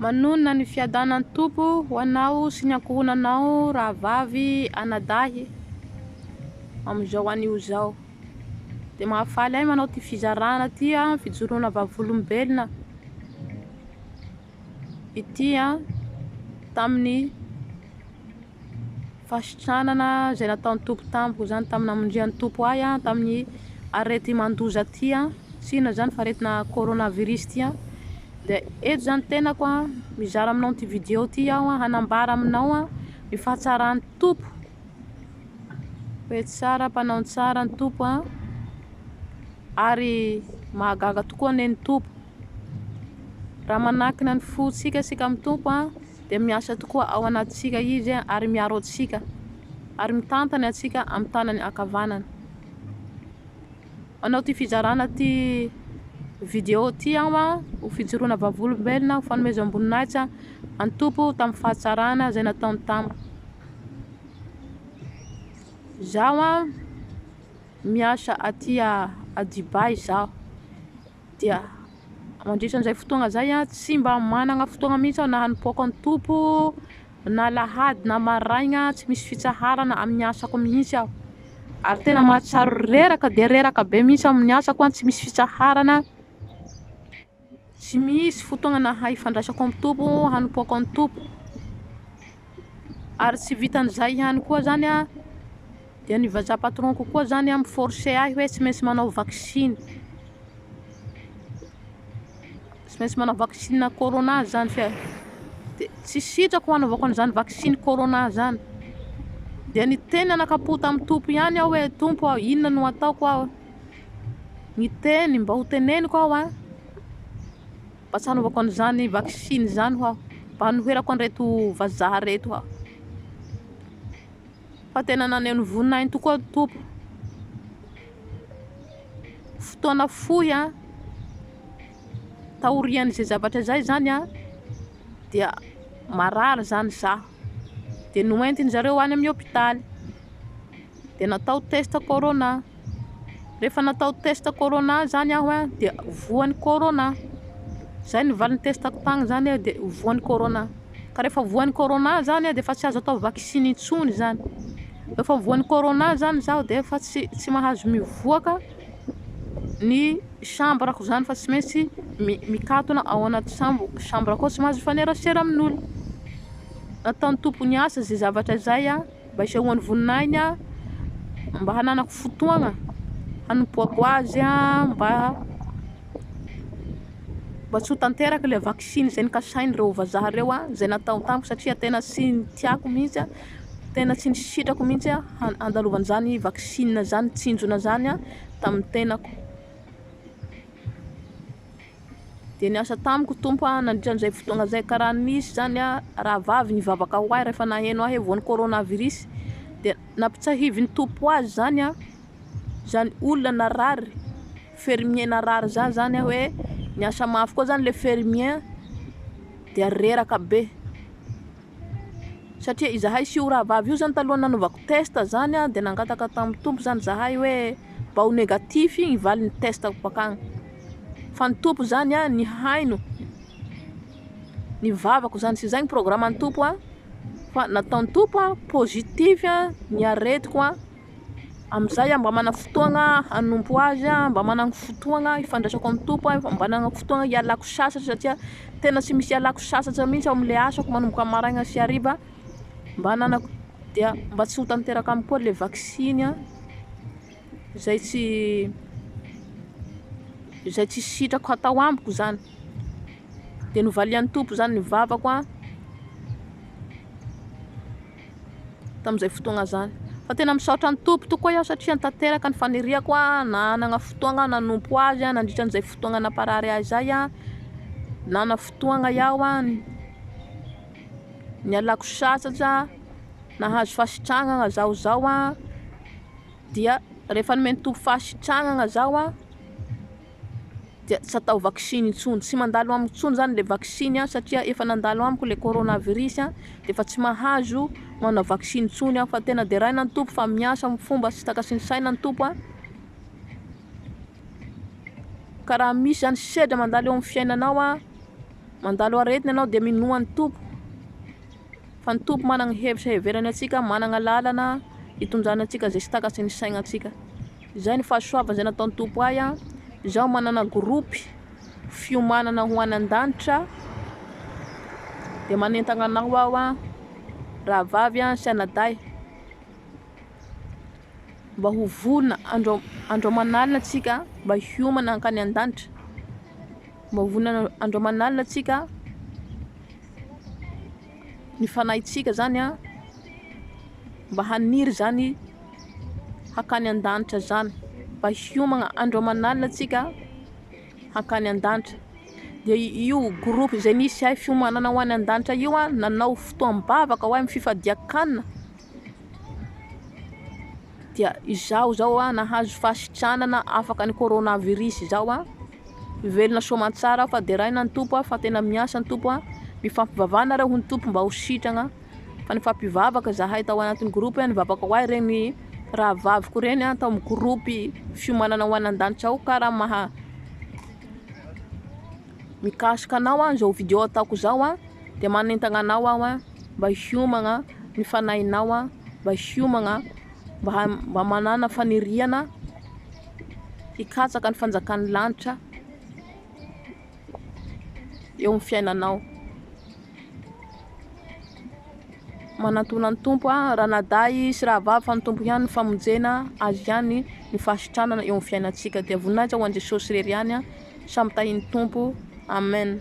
Manonona ny fiadanan'ny Tompo ho anao sy ny ankohonanao rahavavy anadahy amin'izao anio izao. Dia mahafaly ahy manao ity fizarana ity an, fijoroana vavolombelona ity an, tamin'ny fahasitranana izay nataon'ny Tompo tamiko izany tamin'ny namondrian'ny Tompo ahy tamin'ny areti-mandoza ity tsy inona izany fa aretina coronavirus ity dia eto izany tenako mizara aminao ity vidéo ity aho hanambara aminao ny fahatsaran'ny Tompo hoe tsara mpanao ny tsara ny Tompo ary mahagaga tokoa anie ny Tompo Raha manakina ny fontsika isika amin'ny Tompo dia miasa tokoa ao anatintsika Izy ary miaro antsika ary mitantana antsika amin'ny tanany ankavanana. Manao ity fizarana ity vidéo ity aho ho fijoroana vavolombelona, ho fanomezam-boninahitra an'ny Tompo tamin'ny fahatsarana izay nataony tamiko. Izaho miasa aty a Dubaï izaho. dia mandritra an'izay fotoagna izay a tsy mba managna fotoagna mihitsy aho na hanipoaka ny Tompo na alahady na maraigna tsy misy fitsaharana amin'ny asako mihitsy aho ary tena mahatsiaro reraka dia reraka be mihitsy aho amin'ny asako a, tsy misy fitsaharana, tsy misy fotoagnana hifandraisako amin'ny Tompo, hanipoako ny Tompo. ary tsy vitan'izay ihany koa zany an, dia ny vazaha patron ko koa zany an mi forcer ahy hoe tsy maintsy manao vaksiny, tsy maintsy manao vaksiny corona zany fa dia tsy sitrako hanaovako an'izany vaksiny corona zany, dia niteny nanakapoha tamin'ny Tompo ihany aho hoe Tompo ô inona no ataoko aho, niteny mba ho teneniko aho an. Mba tsy hanaovako an'izany vaksiny izany hoa, mba hanoherako an'ireto vazaha ireto hoa. Fa tena naneho ny voninahiny tokoa ny Tompo. Fotoana fohy taorian'izay zavatra izay izany dia marary izany izaho. dia noentin-dry zareo any amin'ny hopitaly dia natao test corona, rehefa natao test corona zany aho a dia voan'ny corona, zay ny valin'ny test-ko tany zany a dia voan'ny corona, ka rehefa voan'ny corona zany aho dia efa tsy azo atao vaksiny intsony zany, rehefa voan'ny corona zany zaho dia efa tsy mahazo mivoaka. ny chambre ko zany fa tsy maintsy mikatona ao anaty chambre ko tsy mahazo mifanerasera amin' olona nataony tompo ny asa zay zavatra zay a mba hisehoany voninahiny a mba hananako fotoagna hanompoako azy a mba mba tsy ho tanteraka ilay vaksiny zay nikasainy reo vazaha reo a zay natao tamiko satria tena tsy tiako mintsy a. Tena tsy nisitrako mihitsy aho handalovana izany vaksiny izany, tsinjona izany tamin'ny tenako. Dia niasa tamiko Tompo nandritra an'izay fotoana izay, ka raha nisy izany rahavavy nivavaka ho ahy rehefa naheno ahy voan'ny coronavirus, dia nampitsahivin'ny Tompo ho azy izany aho, izany olona narary, fermier narary zah izany aho hoe niasa mafy koa izany ilay fermier dia reraka be. Satria izahay sy io rahavavy io izany talohan'ny nanaovako test izany dia nangataka tamin'ny Tompo izany izahay hoe mba ho négatif ny valin'ny test-ko bakany. Fa ny Tompo izany nihaino ny vavako izany sy izay ny programan'ny Tompo fa nataon'ny Tompo positif ny aretiko. Amin'izay aho mba manana fotoagna hanompo azy, mba manana fotoagna hifandraisako amin'ny Tompo aho, mba manana fotoagna hialako sasatra satria tena tsy misy ialako sasatra mihitsy ao amin'ilay asako manomboka amin'ny maraina sy hariva mba hananako dia mba tsy ho tanteraka amiko koa ilay vaksiny a izay tsy izay tsy sitrako hatao amiko izany dia novalian'ny Tompo izany ny vavako a. tamin'izay fotoagna zany. Fa tena misaotra ny Tompo tokoa aho satria tanteraka ny faniriako nanagna fotoagna aho nanompo Azy nandritra an'izay fotoagna namparary ahy zay an, nanana fotoagna iaho an, nialako sasatra, nahazo fasitragnana zaho zao an, dia rehefa nomen'ny Tompo fasitragnana zaho an, dia tsy atao vaksiny intsony, tsy mandalo amiko intsony zany le vaksiny an, satria efa nandalo amiko le coronavirus an, de efa tsy mahazo manao vaksiny intsony aho, fa tena deraina ny Tompo fa miasa am fomba sy taka sy ny saina ny Tompo an, ka raha misy zany sedra mandalo eo am fiainanao an, mandalo aretina enao de minoa ny Tompo, fa ny Tompo manana hevitra heverany antsika, manana lalana hitondrana antsika ze sy taka sy ny saina antsika. Izay ny fahasoavana izay nataon'ny Tompo ahy an! Izaho manana gropy fiomanana ho any an-danitra dia manentana anao aho an! Rahavavy an sy anadahy mba ho vonona andro andro aman'alina tsika mba hiomana hankany an-danitra, mba ho vonona andro aman'alina tsika ny fanahintsika izany an! Mba haniry izany. hakany an-danitra izany, mba hiomagna andro aman'alina tsika hakany an-danitra, dia io groupe izay misy ahy fiomanana ho any an-danitra io a, nanao fotoam-bavaka ho ahy amin'ny fifadian-kanina, dia izaho izao a nahazo fahasitranana afaka ny corona virus izao a. Mivelona soa aman-tsara aho fa deraina ny Tompo aho fa tena miasa ny Tompo aho. Mifampivavaha nareo ho ny Tompo mba ho sitragna fa nifampivavaka zahay tao anatin'ny groupe an nivavaka ho ahy reny rahavaviko reny an tao amin'ny groupe fiomanana ho any an-danitra ao ka raha maha mikasika anao an zao video ataoko zao an dia manentagna anao aho an mba hiomagna ny fanahinao an mba hiomagna mba mba manana faniriana hikatsaka ny fanjakan'ny lanitra eo amin'ny fiainanao. Manantona ny Tompo aho, ranadahy sy rahavavy fa ny Tompo ihany ny famonjena, Azy ihany ny fahasitranana eo amin'ny fiainantsika. Dia voninahitra ho an'i Jesosy irery ihany, samy tahin'ny Tompo. Amen.